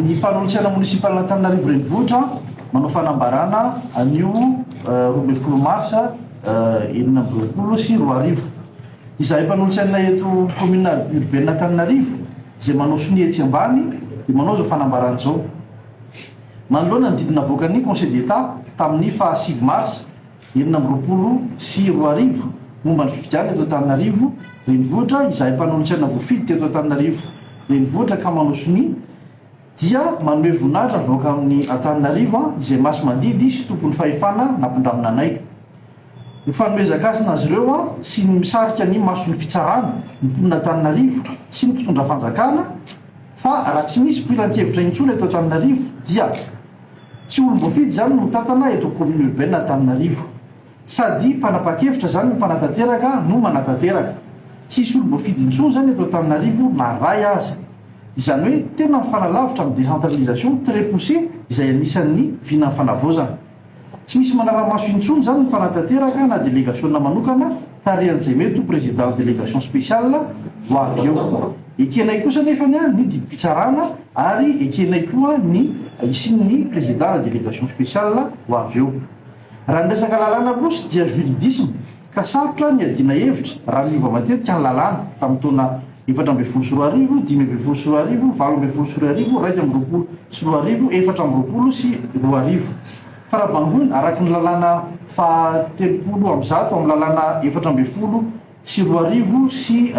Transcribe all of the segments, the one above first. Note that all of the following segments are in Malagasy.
Ny fanolotsiana municipal Antananarivo Renivohitra manao fanambarana anio roa ambin'ny folo marsa enina amby roapolo sy roa arivo. Izahay mpanolotsiana eto commune urbaine Antananarivo izay manao sonia etsy ambany dia manao izao fanambarana izao. Manoloana ny didy navoakan'ny Conseil d'Etat tamin'ny faha sivy marsa, enina amby roapolo sy roa arivo momba ny fifidianana eto Antananarivo Renivohitra, izahay mpanolotsaina voafidy teto Antananarivo Renivohitra ka manao sonia dia manome voninahitra ny vahoaka amin'ny Antananarivo izay masi-mandidy sy tompon'ny fahefana nampindramina anay ho fanomezan-kasina azy ireo sy ny misarika ny mason'ny fitsarana ny mponin'Antananarivo sy ny mpitondra fanjakana fa raha tsy misy mpilan-kevitra intsony eto Antananarivo dia Tsy olon voafidy izany no mitantana eto commune urbaine Antananarivo. Sady mpanapakevitra izany no mpanatanteraka no manatanteraka. Tsy hisy olon boafidy intsony izany eto Antananarivo na ray aza. Izany hoe tena mifanalavitra amin'ny décentralisation très poussé izay anisan'ny vinan'ny fanavaozana. Tsy misy manaramaso intsony izany ny mpanatanteraka na delegasiona manokana Tarihan'i Jemeto, Président Délégation Spéciale, ho avy eo. Ekenay kosa anefa ny didim-pitsarana ary ekenay koa ny hisian'ny Président-na Délégation Spéciale ho avy eo. Raha ny resaka lalàna kosa dia juridisme ka sarotra ny hiadiana hevitra raha miova matetika ny lalàna, tamin'ny taona efatra ambin'ny folo sy roa arivo, dimy ambin'ny folo sy roa arivo, valo ambin'ny folo sy roa arivo, iraika amby roapolo sy roa arivo, efatra amby roapolo sy roa arivo. Farabangoina, araka ny lalàna faha telopolo amby zato amin'ny lalàna efatra ambin'ny folo sy roa arivo sy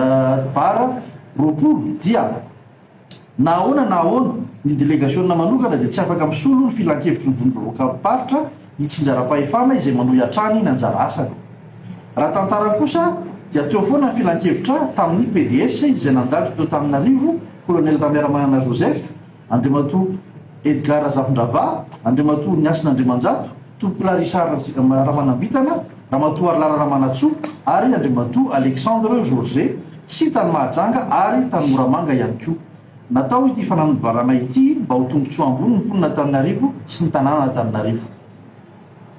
bara roapolo dia na ahoana na ahoana ny delegasiona manokana dia tsy afaka misolo ny filankevitry ny vondrom-bahoakam-paritra itsinjaram-pahefana izay manohy hatrany ny anjara asany. Raha tantara kosa dia teo foana ny filankevitra tamin'ny PDS izay nandalo teo tamin'ny arivo, Colonel Ramiramanana Joseph, Andriamatoa Edgard Razafindravahy, Andriamatoa Niasina Andriamanjato, Tompokolahy Richard Ramanambitana, Ramatoa Harilara Ramanantsoa ary Andriamatoa Alexandre Georget sy tany Mahajanga ary tany Moramanga ihany koa. Natao ity fananobarana ity mba ho tombotsoa ambony ny mponina Antananarivo sy ny tanànan'Antananarivo.